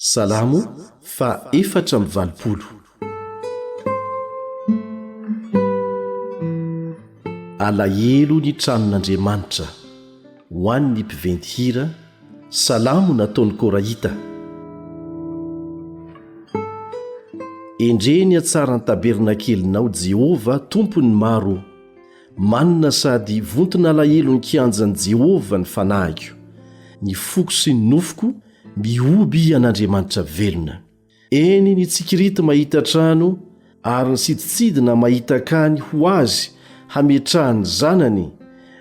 Salamo faha efatra amby valopolo. Alahelo ny tranon'Andriamanitra. Ho an'ny mpiventy hira. Salamo nataon'ny Korahita. Endrey ny hatsaran'ny tabernakelinao, Jehovah, Tompon'ny maro ô! Manina sady vonton'alahelon'ny kianjan'i Jehovah ny fanahiko, ny foko sy ny nofoko, Mihoby an'Andriamanitra velona. Eny ny tsikirity mahita trano ary ny sidintsidina mahita akany ho azy hametrahany zanany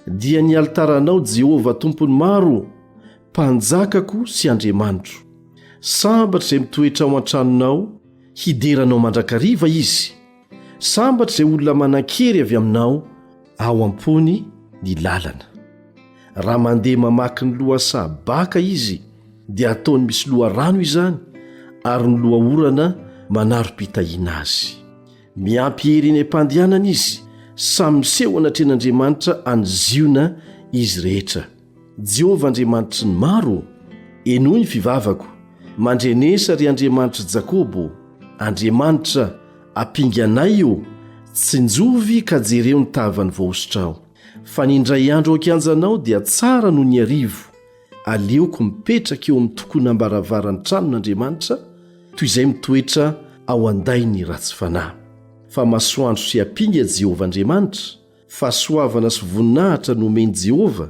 dia ny alitaranao Jehovah Tompon'ny maro ô, Mpanjakako sy Andriamanitro. Sambatra izay mitoetra ao an-tranonao hidera anao mandrakariva izy. Sambatra izay olona manan-kery avy aminao ao am-pony ny lalana. Raha mandeha mamaky ny lohasaha baka izy dia ataony misy loharano izany ary ny lohaorana manaro-pitahiana azy. Miampy hery eny am-pandehanana izy, samy miseho anatrehan'Andriamanitra any Ziona izy rehetra. Jehovah Andriamanitry ny maro, henoy ny fivavako. Mandrenesa, ry Andriamanitr'i Jakoba, Andriamanitra, ampinganay o! Tsinjovy ka jereo ny tavan'ny voahosotrao. Fa ny indray andro ao an-kianjanao dia tsara noho ny harivo. Aleoko mipetraka eo amin'ny tokonam-baravaran'ny tranon'Andriamanitra, toy izay mitoetra ao an-dain'ny ratsy fanahy. Fa masoandro sy ampinga Jehovah Andriamanitra. Fahasoavana sy voninahitra no omen'i Jehovah.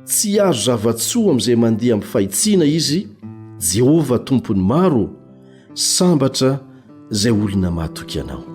Tsy hiaro zava-tsoa amin'izay mandeha amin'ny fahitsiana izy, Jehovah Tompon'ny maro ô! Sambatra izay olona mahatoky anao.